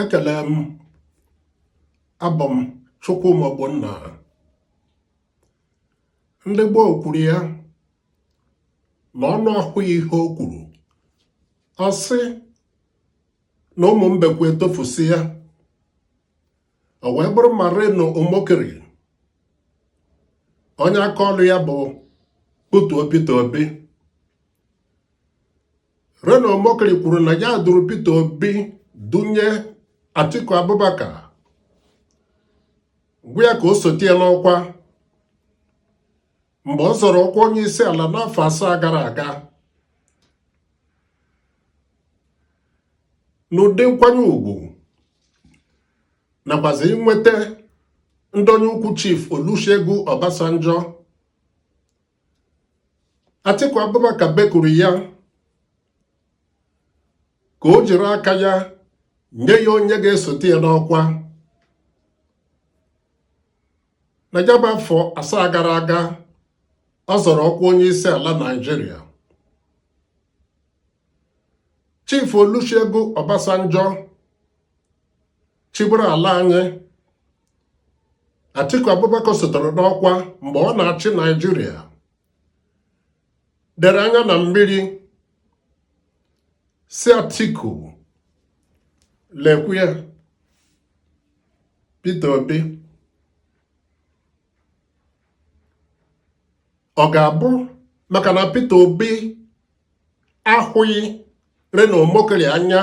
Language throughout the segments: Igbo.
ekele m abụ m Chukwuma Ogbonna ndị gboo kwuru ya na ọnụ ahụghị ihe o kwuru ọ sị na ụmụ mbekwu etofusịa o wee bụrụ ma Reno Omokri onye aka ọlụ ya bụ ikwutọ Peter Obi Reno Omokri kwuru na ya duru Peter Obi dunye Atiku Abubakar gwa ya ka o sote ya n'ọkwa mgbe ọ zọrọ ọkwa onye isi ala n'afọ asaa gara aga n'ụdị nkwanye ugwu nakwazi inweta ndonye ukwu chief Olusegun Obasanjo Atiku Abubakar bekuru ya ka o jiri aka ya nye ya onye ga-esote ya n'ọkwa na ya bụ afọ asaa gara aga ọ zọrọ ọkwa onye isi ala Naịjirịa Chief Olusegun Obasanjo chịburu ala anyị Atiku Abubakar sotere n'ọkwa mgbe ọ na-achị Naịjirịa dere anya na mmiri sị Atiku lekwa ya Peter Obi ọ ga-abụ maka na Peter Obi ahụghị Reno Omokri anya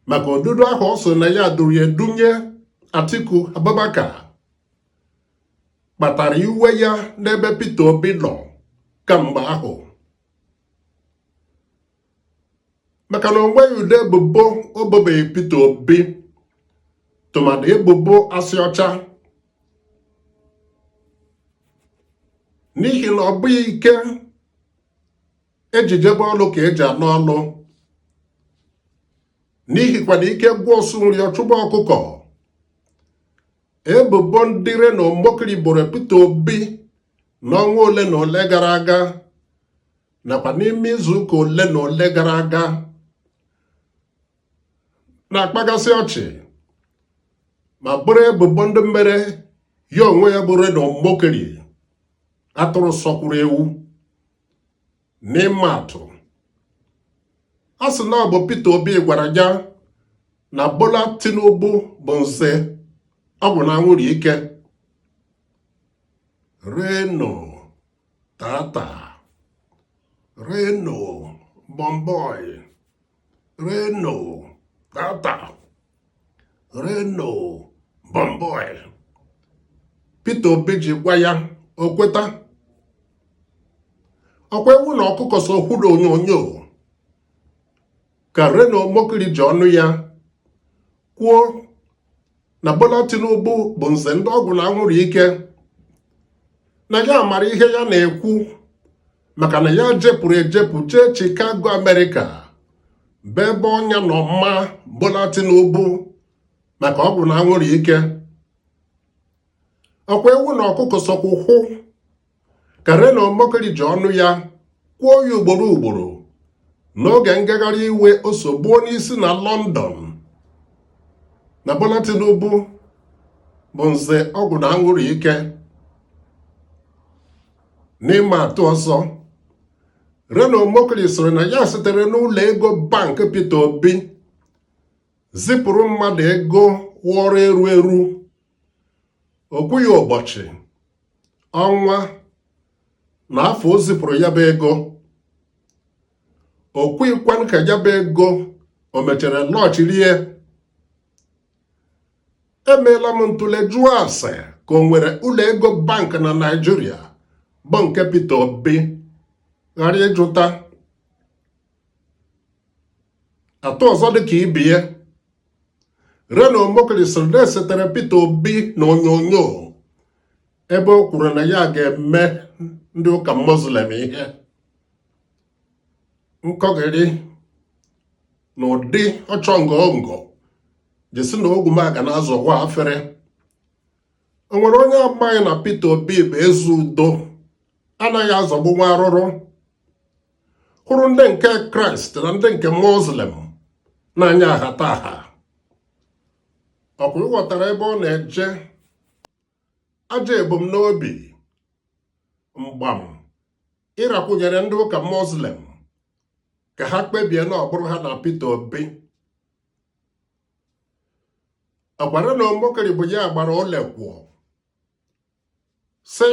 maka odudu ahụ ọ sị na ya duru ya dunye Atiku Abubakar kpatara iwe ya n'ebe Peter Obi nọ kamgbe ahụ maka na o nweghị ụdị ebubo o bobeghị Peter Obi tụmadị ebubo asị ọcha n'ihi na ọ bụghị ike e ji jebe ọlụ ka e ji ana ọlụ n'ihi kwa na ike gwụ ọsụ nri ọ chụba ọkụkọ ebubo ndị Reno Omokri boro Peter Obi n'ọnwa ole na ole gara aga nakwa n'ime izuụka ole na ole gara aga na-akpagasị ọchị ma bụrụ ebubo ndị mere ya onwe ya bụ Reno Omokri atụrụ sọkwuru ewu n'ịma atụ a sị na ọ bụ Peter Obi gwara ya na Bola Tinubu bụ nze ọgwụ na anwụrụ ike Reno tata Reno bọmbọi Reno, tata, Reno, Bọmbọi. Peter Obi ji gwa ya o kweta ọ kwa ewu na ọkụkọ so hụrụ onyonyo ka Reno Omokri ji ọnụ ya kwuo na Bola Tinubu bụ nze ndị ọgwụ na anwụrụ ike na ya mara ihe ya na-ekwu maka na ya jepụrụ ejepụ jee Chicago Amerịka bụ ebe ọnya nọ maa Bola Tinubu maka ọgwụ na anwụrụ ike ọ kwa ewu na ọkụkọ sokwa hụkwuo ka Reno Omokri ji ọnụ ya kwuo ya ugboro ugboro n'oge ngagharị iwe o so gbuo n'isi na London na Bola Tinubu bụ nze ọgwụ na anwụrụ ike n'ịma atụ ọzọ Reno Omokri sịrị na ya sitere n'ụlọ ego bank Peter Obi zipụrụ mmadụ ego wụọrọ eru eru o kwughị ụbọchị ọnwa na afọ o zipụrụ ya bụ ego o kwughịkwanụ ka ya bụ ego o mechara lọchirie emeela m ntụle jụọ ase ka o nwere ụlọ ego bank na Naịjirịa bụ nke Peter Obi ghara ịjụta atụ ọzọ dị ka ibie Reno Omokri sịrị na e setere Peter Obi na onyonyo ebe o kwuru na ya ga-eme ndị ụka Muslim ihe nkọgịrị na ụdị ọchọ ngọngọ je sị na ogwumagana azọwa ya afere o nwere onye amaghị na Peter Obi bụ eze udo anaghị azọgbu nwa arụrụ hụrụ ndị nke kraịst na ndị nke muslim n'anya ahata aha ọ kwa ị ghọtara ebe ọ na-eje ajọ ebumnobi mgbam ịrakwụnyere ndị ụka muslim ka ha kpebie na ọ bụrụ ha na Peter Obi ọ kwa Reno Omokri bụ ya gbara ole kwuo sị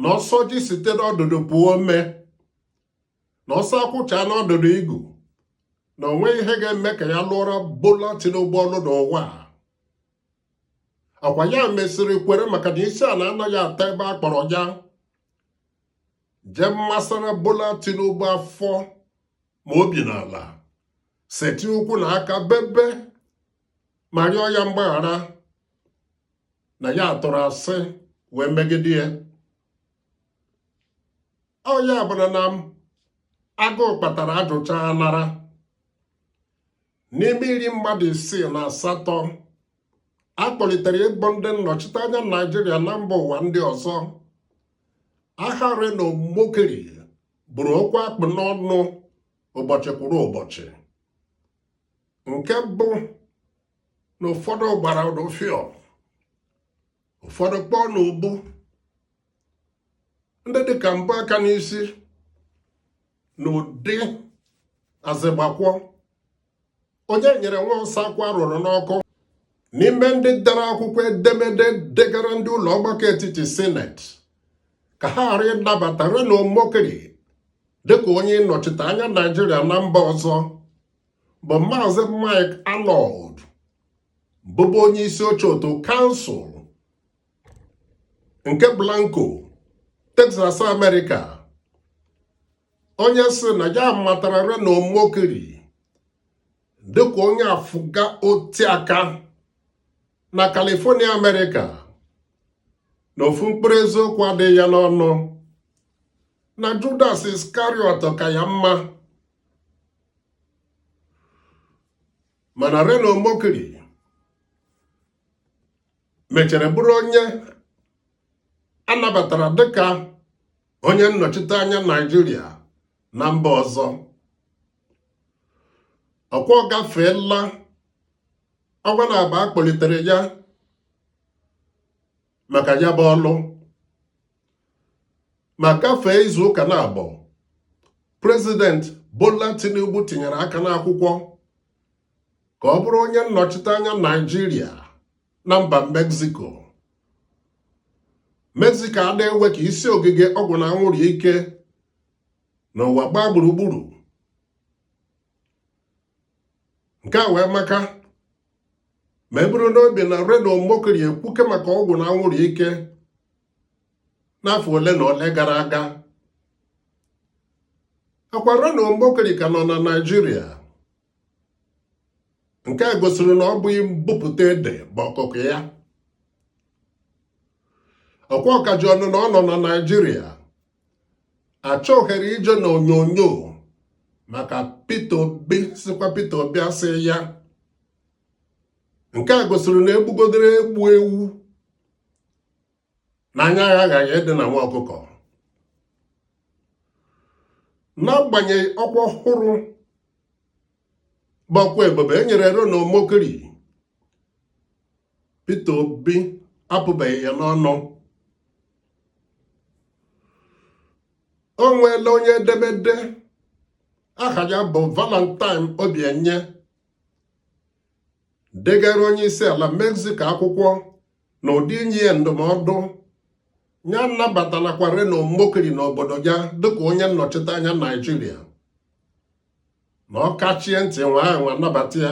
na ọ sọ ji site n'ọdụdụ puo ome na ọ sọ akwụ chaa n'ọdụdụ igu na o nweghị ihe ga-eme ka ya lụọra Bola Tinubu ọlụ n'ụwa a ọ kwa ya mesịrị kwere maka na isi ala anaghị ata ebe a kpọrọ ya je masara Bola Tinubu afọ ma obi n'ala setị ụkwụ na aka bebe ma rịọ ya mgbaghara na ya tụrụ asị wee megide ya ọ ya bụrụ na agụụ kpatara ajụchaa anara n'ime iri mmadụ isii na asatọ a kpọlitere ịbụ ndị nnọchiteanya naijiria na mba ụwa ndị ọzọ aha Reno Omokri bụrụ okwu a kpụ n'ọnụ ụbọchị kwuru ụbọchị nke bụ na ụfọdụ gbara n'ụfịọ ụfọdụ kpọọ n'ubu ndị dịka m bu aka n'isi na ụdị azịgbakwa onye nyere nwa ọsa akwụ a rụrụ n'ọkụ n'ime ndị dere akwụkwọ edemede degara ndị ụlọ ọgbakọ etiti sineti ka ha ghara ịnabata Reno Omokri dịka onye nnọchite anya Naijiria na mba ọzọ bụ maazị Mike Arnold bụbu onye isi oche otu kansụl nke Blanco Texas America onye sị na ya matara Reno Omokri dịka onye afụga otiaka na California America na ofu mkpụrụ eziokwu adịghị ya n'ọnụ na Judas Iscariot ka ya mma mana Reno Omokri mechara bụrụ onye a nabatara dịka onye nnọchite anya Naijiria na mba ọzọ ọkwa ọ gafeela ọnwa na abụọ a kpọlitere ya maka ya bụ ọlụ ma gafee izu ụka na abụọ prezident Bola Tinubu tinyere aka n'akwụkwọ ka ọ bụrụ onye nnọchite anya Naijiria na mba Mexico Mexico ada ewe ka isi ogige ọgwụ na anwụrụ ike n'ụwa gbaa gburugburu nke a wee maka ma e buru n'obi na Reno Omokri ekwuke maka ọgwụ na anwụrụ ike n'afọ ole na ole gara aga akwa Reno Omokri ka nọ na Naịjirịa nke a gosiri na ọ bụghị mbupụta ede bụ ọkụkụ ya ọkwa ọ ka ji ọnụ na ọ nọ na Naịjirịa achọgharị ije n'onyonyo maka Peter Obi sịkwa Peter Obi asị ya nke a gosiri na egbugodere egbe ewu na anya ya aghaghị ịdị na nwa ọkụkọ n'agbanyeghị ọkwa ọhụrụ bụ ọkwa ebube e nyere Reno Omokri Peter Obi apụbeghị ya n'ọnụ o nweela onye edemede aha ya bụ Valentine Obienyem degara onye isi ala Mexico akwụkwọ na ụdị inye ya ndụmọdụ ya anabatalakwa Reno Omokri n'obodo ya dịka onye nnọchite anya Naijiria na ọ kachie ntị nwaa anwa nabata ya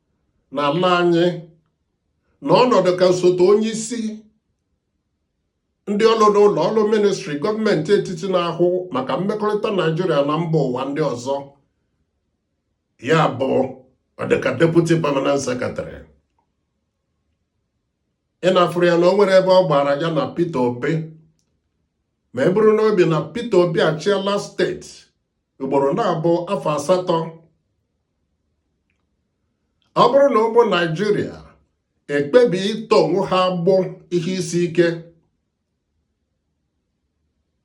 na ala anyị na ọ nọ dịka osote onye isi ndị ọrụ n'ụlọ ọrụ ministri gọọmenti etiti na-ahụ maka mmekọrịta naijiria na mba ụwa ndị ọzọ ya bụ ọ dịka deputy permanent secretary ị na-afụrụ ya na o nwere ebe ọ gbara ya na Peter Obi ma e buru n'obi na Peter Obi achịala steeti ugboro naabọ afọ asatọ ọ bụrụ na ụmụ naijiria ekpebie ịtọ onwe ha agbụ ihe isi ike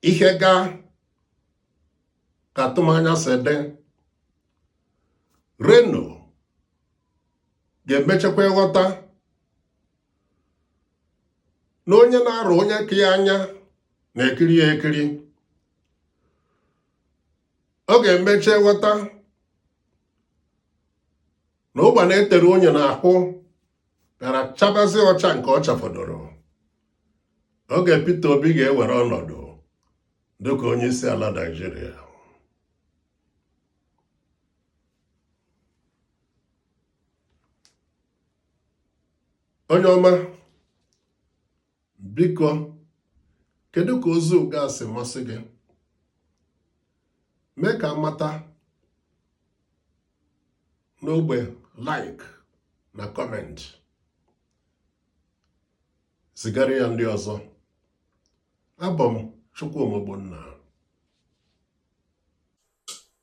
ihe gaa ka atụmanya si dị Reno ga-emechakwa ịghọta na onye na-arọ onye ka ya anya na-ekiri ya ekiri ọ ga-emecha ghọta na ụgbana e tere unyi n'ahụ bịara chabazie ọcha nke ọ chafọdụrụ oge Peter Obi ga-ewere ọnọdụ dịka onye isi ala Naịjirịa onye ọma biko kedu ka ozi ugbu a si masị gị mee ka a mata n'ogbe like na comment zigara ya ndị ọzọ abụ m Chukwuma Ogbonna